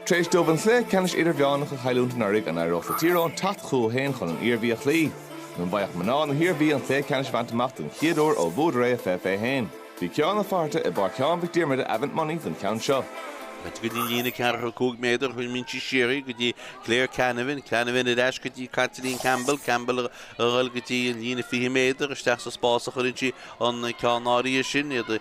Tar éis dóibh an cluiche ceannais idirmheánach a chailliúint anuraidh, an éireodh le Tír Eoghain teacht chucu féin chun an Iarmhí a chloí? Nó an bhfaigheadh mná na hIarmhí an cluiche ceannais a bhaint amach den chéad uair ó bhuadar é i 2021? Bhí Cuán Ó Flatharta i bPáirc Sheáin Mhic Diarmada Avant Money don cheann seo. Ait go dtí líne ceathracha cúig méadar cuireann sí siar í go dtí Claire Canavan, Canavan ar ais go dtí Caitlín Campbell, Campbell a ghoil go dtí an líne fiche méadar, isteach sa spás a chuireann sí an ceann áirithe sin, iad i.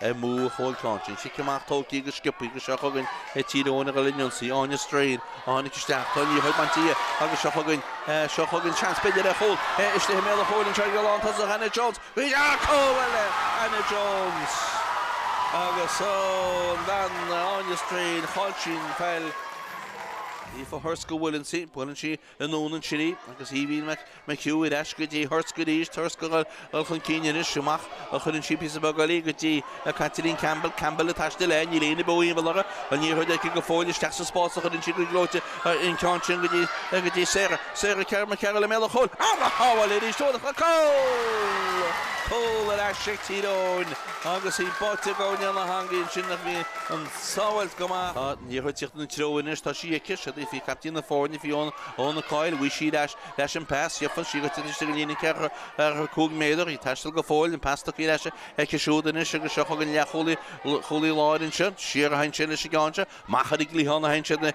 amuigh ó chúl caint. An cic amach tógtha go sciobtha agus seo chugainn é Tír Eoghain a ghoill an ionsaí. Áine Strain a tháinig isteach. Tá an liathróid bainte dhi agus seo chugainn seo chugainn seans b'fhéidir ar chúl istigh i mbéal an chúil. Anseo ag dul ann tosach Hannah Jones. I mbéal an chúil Hannah Jones agus ón bhean Áine Strain. Chaill sí an pheil. Aoife Horisk go bhfuil sí, buaileann sí. anonn ansin í, agus Aoibhín McHugh ar ais go dtí Horisk arís, Horisk a dhul chun cinn anois, amach a chuireann sí píosa beag eile go dtí Caitlín Campbell, Campbell ag taisteal léi, níl éinne beo ina bealach, an liathróid aici go fóill isteach sa spás a chuireann sí go gleoite an ceann sin go dtí Sarah, Sarah McCarroll i mbéal an chúil ar a shábháil arís, tá an cúl! Cúl ar ais ag Tír Eoghain agus í báite go domhain san eangaigh ansin ach bhí an. Sábháilt go maith. Tá an liathróid ag tíocht ina treo anois, tá sí aici, siúd í, Fi- caiptín na foirne, Fiona Coyle, bhí sí leis an pas, í ag tíocht taobh istigh den líne ceathracha cúig méadar, í ag taisteal go fóill, an pas tugtha leis aici siúd anois agus seo chugainn an leathchúlaí láir ansin, siar a théann sé leis an gceann seo, amach ar an gcliathán a théann siad,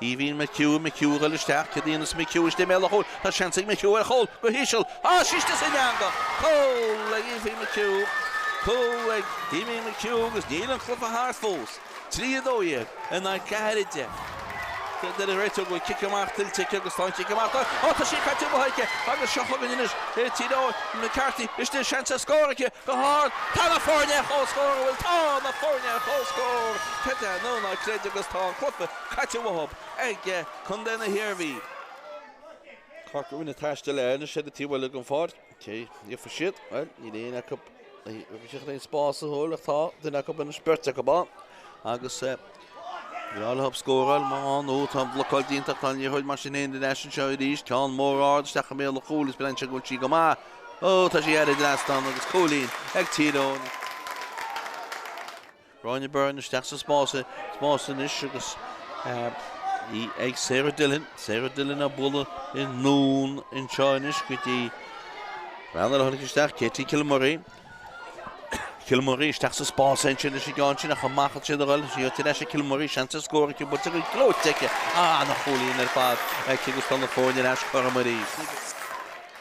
Aoibhín McHugh, McHugh a ghoil isteach, céard a dhéanfas McHugh, istigh i mbéal an chúil, tá seans ag McHugh ar chúl, go híseal, á tá sí istigh san eangach! Cúl ag Aoibhín McHugh! Cúl ag Aoibhín McHugh agus níl an cluiche thart fós, 3, 12 in aghaidh 4, 10. Deir an réiteoir go bhfuil cic amach tuillte aici agus tá an cic amach tuillte, á tá sí caite amú aici agus seo chugainn anois é Tír Eoghain, McCaffrey istigh, seans ar scór aici, go hard, tá na foirne ar chomhscór, bhuel tá na foirne ar chomhscór, creid é nó ná creid agus tá an cluiche. caite uathub ag Condae na hIarmhí. Corrigan ag taisteal léi anois ar an taobh eile den pháirc. Cé a iarrfaidh siad? Bhuel, níl éinne acu sa spás a thuilleadh ach tá duine acu anois, beirt acu ann agus breá leo scóráil má tá nó tá an blocáil déanta ach tá an liathróid mar sin féin ar ais anseo arís. Ceann mór ard isteach i mbéal an chúil is binn anseo go bhfuil sí go maith. Ó, tá sí thar an trasnán agus cúilín ag Tír Eoghain. Gráinne Byrne isteach sa spás anois agus í ag Sarah Dillon. Sarah Dillon á bualadh anonn anseo anois go dtí béal an chúil isteach Katie Kilmurray. Kilmurray isteach sa spás anois leis an gceann sin ach amach as siad a dhul. Tá sí ar ais ag Kilmurray, seans ar scór aici buailte go gleoite aici. Á, an-chúilín ar fad aici agus tá na foirne ar ais cothrom arís.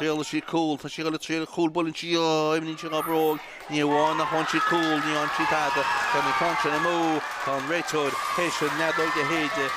Sheol sí cúl. Tá sí ag dul ag triail cúl. Buaileann sí í. Imríonn sí dhá bhróg. Ní amháin nach bhuann sí cúl, ní fhanann sí tada. Téann an caint sin amú. Tá an réiteoir théis an fheadóig a shéideadh.